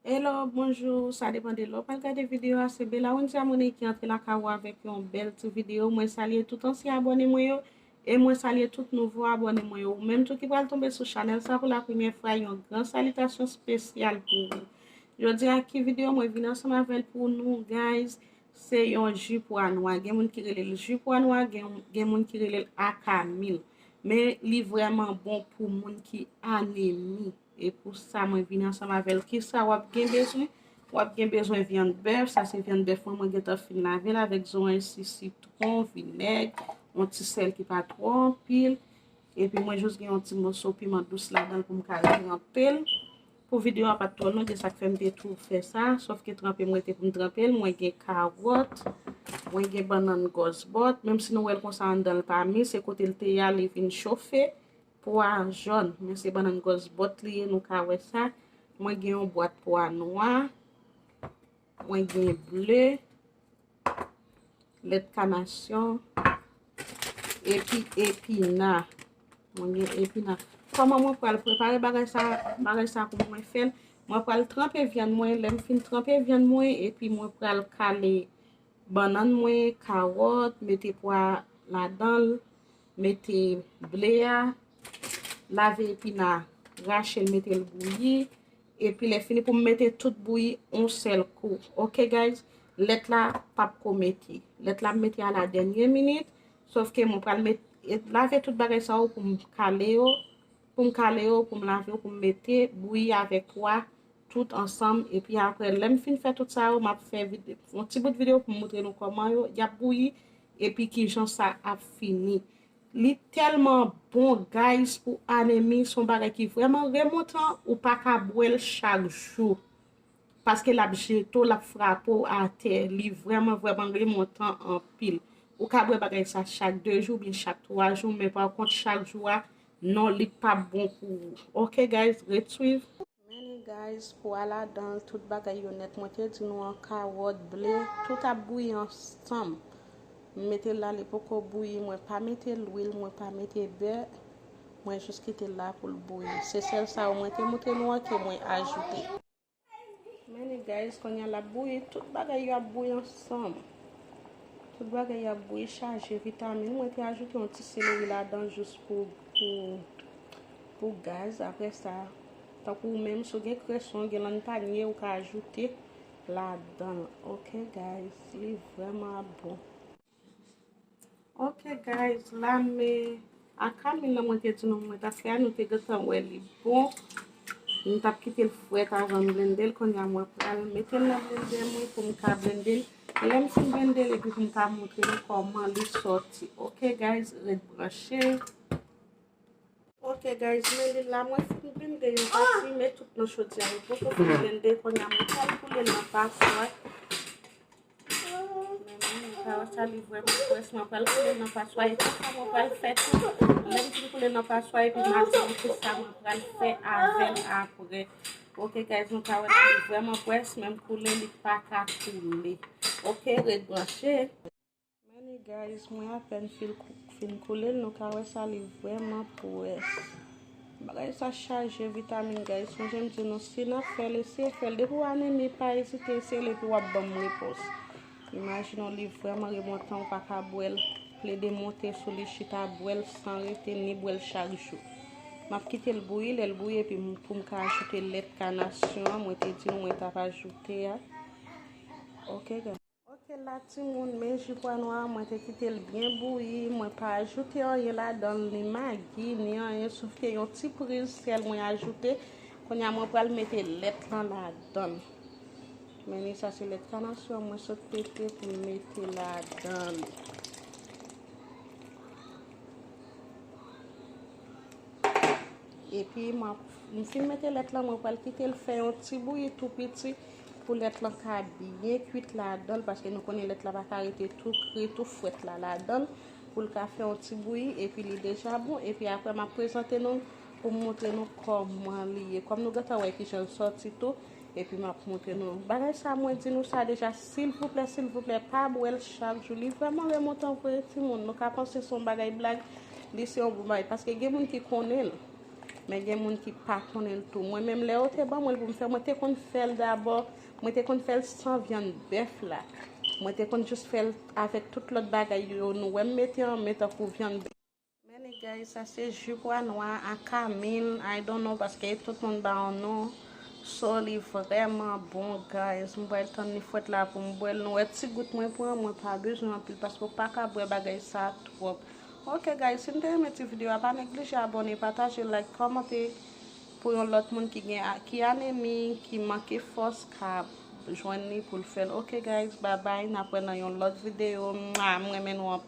Hello bonjour sa depan de lè w pral gade video a se Belawensia Monet ki antre lakay ou avèk yon bèl ti video mwen salye tout ansyen abòne mwen yo e mwen salye tout nouvo abòne mwen yo ou menm tou ki pral tonbe sou chanèl sa pou la premyè fwa yon gran salitasyon spesyal pou ou jodi a ki video mwen vin ansanm avèl pou nou guys se yon ju pwa nwa gen moun ki rele l ju pwa nwa gen moun ki rele l akamil men li vrèman bon pou moun ki anemi E pou sa mwen vini ansanm avèl. Kisa wap gen bezwen? Wap gen bezwen vyann bèf, sa se vyann bèf mwen, mwen gentan fin lavel avèk zoranj si sitron, vinèg, yon ti sèl ki pa twò anpil. E pi mwen jous gen yon ti moso piman dous ladan pou m ka tranpel. Pou videyo a pat twò long e sak fèm te tou fè sa, sof ke tranpe mwen te pou m tranpel, mwen gen kawòt, mwen gen bannann gòs bòt, menm si nou wèl konsa anndanl pa mi, se kotel te ya li vin chofe. Pwa an jòn, men se bannann gòs bòt li ye, nou ka wè sa. Mwen gen yon bwat pwa nwa. Mwen gen ble. Lèt kanasyon. Epi epina. Mwen gen epina. Kòman mwen pral prepare bagay sa, bagay sa pou mwen fè l? Mwen pral tranpe vyann mwen, lè m fin tranpe vyann mwen, epi mwen pral kale Bannann mwen, kawòt, mete pwa ladanl, mete ble a, lave epina, rachel metel bouyi, epi lè fini poum mete tout bouyi on sèl kou. Ok guys, lèt la pap ko mete. Lèt la mete a la dènye minit, sofke mwen pral mete lave tout bagay sa yo poum kale yo. Pou m kale yo, pou m lave yo, pou m mete, bouyi avèk pwa, tout ansanm, epi aprè lè m fin fè tout sa yo, m ap fè vide, yon ti bout videyo pou m moutre nou kòman yo, y ap bouyi, epi kijan sa ap fini. Li tèlman bon guys pou anemi, son bagay ki vrèman remontan, ou pa ka bwè l chak jou, paske l ap jete w, l ap frape w atè, li vrèman vrèman remontan anpil. Ou ka bwè bagay sa chak 2 jou, oubyen chak 3 jou, men pa kont chak jou a, Non li pap bon pou ou. Ok guys ret swiv. Many guys pou a ladanl tout bagay yo nèt mwen te di nou an karòt, ble tout ap bouyi ansanm m metel la li poko bouyi mwen pa mete lwil mwen pa mete bè mwen jis kitel la poul bouyi se sèl sa yo mwen te moutre nou an ke mwen ajoute. Many guys konya lap bouyi tout bagay yo ap bouyi ansanm tout bagay yo ap bouyi chaje vitamine mwen te ajoute yon ti seleri ladan jous pou pou pou gaz apre sa tankou ou menm sou gen kreson gen lan panye ou ka ajoute ladan ok guys li vreman ap bon. Ok guys la me akamil la mwen te di nou mwen tap fè a nou te gentan wè li bon m tap kite l fwèt avan m blende l konnya mwen pral mete l nan blender mwen pou m ka blende l lè m fin blende l epi pou m ka montre nou kòman li sòti ok guys ret branche. Ok guys men li la mwen fin blende yon pati men tout nan chodya yo poko fin blende konya mwen pral koule l an pa swat mwen sa li vrèman frèch mwen pral koule l an pa swat epi sa mwen pral fè tou lè m fin koule l an pa swat epi m ap di nou ki sa mwen pral fè avè l aprè ok guys nou ka wè la li vrèman frèch men m koule li paka koule ok ret branche. Many guys mwen apèn fin koulel nou ka wè sa li vrèman pwès bagay sa chaje vitamin guys sonje m di nou si nap fèl eseye fèl depi w anemi pa ezite eseyel epi wap banm repons imajine w li vrèman remontan ou pa ka bwèl plede monte sou li chita bwèl san rete ni bwèl chak jou map kite l bouyi lèl bouyi epi pou m ka ajoute lèt kanasyon mwen te di nou mwen tap ajoute a ok guys. Ok la timoun men ji pwa nwa a mwen te kitel byen bouyi mwen pa ajoute anyen ladanl ni magi ni anyen sof ke yon ti priz sèl mwen ajoute konya mwen pral mete lèt lan ladann men ni sa se lèt kanasyon mwen sot pete pou m mete ladann. Epi m fin mete lèt lan, mwen pral kite l fè yon ti bouyi tou piti pou lèt lan ka byen kuit ladan l, paske nou konnen lèt la pa ka rete tou kri, tou fwèt la ladan l, pou l ka fè yon ti bouyi, epi li deja bon, epi apre m ap prezante nou pou m montre nou kòman li ye. Kòm nou gentan wè ki jan l sòti tou. Epi map montre nou bagay sa mwen di nou sa deja silvouplè silvouplè pa bwèl chak jou li vrèman remontan vre timoun nou ka panse son bagay blag li se yon bon bagay paske gen moun ki konnen l men gen moun ki pa konnen l tou mwen menm lè yo te ban mwen pou m fè mwen te konn fèl dabò mwen te konn fèl san vyann bèf la mwen te konn jis fèl avèk tout lòt bagay yo nou wèm mete an men tankou vyann bèf Men e guys sa se ju pwa nwa a kamin I don't know paske tout moun ba yon non so li vrèman bon guys m pral tann li fwèt la pou m bwè l nou wè ti gout mwen pran mwen pa bezwen anpil paske ou paka bwè bagay sa twòp ok guys si nou te renmen ti video a pa neglije abòne pataje like kòmante pou yon lòt moun ki gen ki anemi ki manke fòs ka jwenn li pou l fè l ok guys babay nap wè nan yon lòt video mwaa m renmen nou anpil.